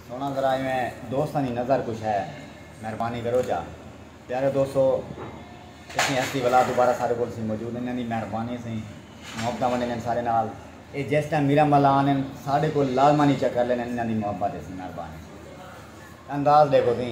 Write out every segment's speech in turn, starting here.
سونا ذرا ایویں دوستاں دی نظر کچھ ہے مہربانی کرو جا پیارے دوستو اتنی ہستی والا دوبارہ سارے کول سی موجود ہیں انہاں دی مہربانی سی محبت ونڈے نے سارے نال اے جس ٹائم میرا ملا آنے سارے کول لازمانی چکر لینے انہاں دی محبت سی مہربانی انداز دیکھو سی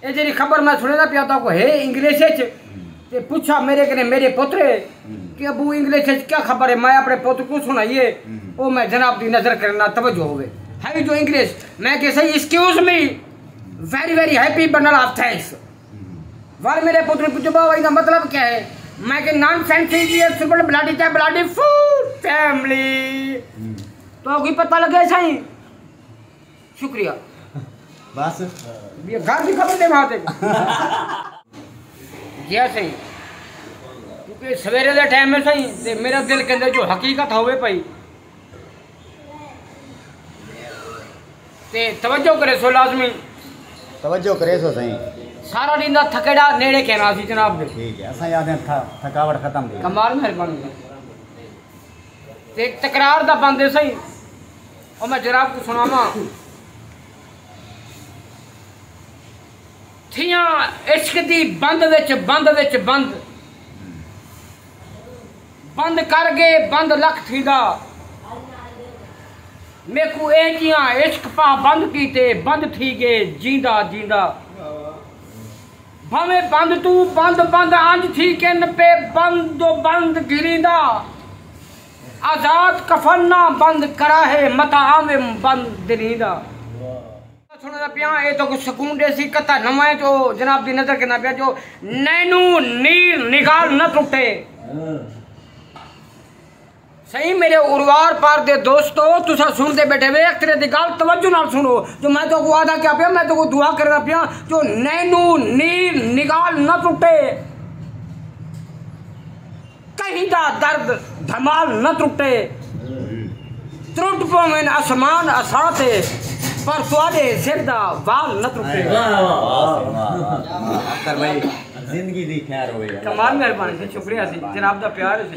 اے جیڑھی خبر میں سنڑیندا پیا تہاکوں ہے انگلش اچ تے پچھا میڈے کنے میڈے پتر کہ ابو انگلش اچ کیا خبر ہے میں اپنے پتر کوں سنڑائیے او میں جناب دی نظر کنے نال توجہ ہووے ہئی جو انگلش میں کہ سئی excuse me very very happy bundle of thanks well made پتر پچھو با وئی دا مطلب کیا ہے میں کہ نان سینس ایڈیٹ سپل بلاڈی تے بلاڈی فور فیملی تو کوئی پتہ لگے سائیں شکریہ بس گھر دی خبر دے بھاتے جیا سائیں کیونکہ سویرے دے ٹائم میں سائیں تے میرا دل کہندے جو حقیقت ہوے پئی تے توجہ کرے سو لازمی توجہ کرے سو سائیں سارا دن دا تھکڑا نیڑے کہنا سی جناب دے ٹھیک ہے اساں یاد ہیں تھکاوٹ ختم دی کمال مہربانی تے تکرار دا بند ہے سہی او میں جناب کو سناواں تھیاں عشق دی بند وچ بند وچ بند بند کر گئے بند لکھ تھیدا میکو اے جیاں عشق پاہ بند کیتے بند تھی گئے جیندا جیندا بھانویں بند توں بند بند انج تھی کن پے بند و بند گھریندا آزاد کفن نہ بند کراہے متاں آوم بند دریندا۔ گتہ سنڑدا پیاں اے تہاکوں سکون ڈیسی گتہ نواں اے جو جناب دی نظر گھندا پیا جو نینوں نیر نگال نہ ٹٹے۔ سئیں میڈے اروار پار دے دوستو تساں سنڑدے بیٹھے وے اکترے دی گالھ توجہ نال سنڑو جو میں تہاکوں وعدہ کیا پیا میں تہاکوں دعا کرنا پیا جو نینو نیل نگال نہ ٹوٹے کہیں دا درد دھمال نہ ٹوٹے ترٹ پوین اسمان اساں تے پر تہاڈے سر دا وال نہ ٹوٹے کمال مہربانی سی شکریہ سی جناب دا پیار سی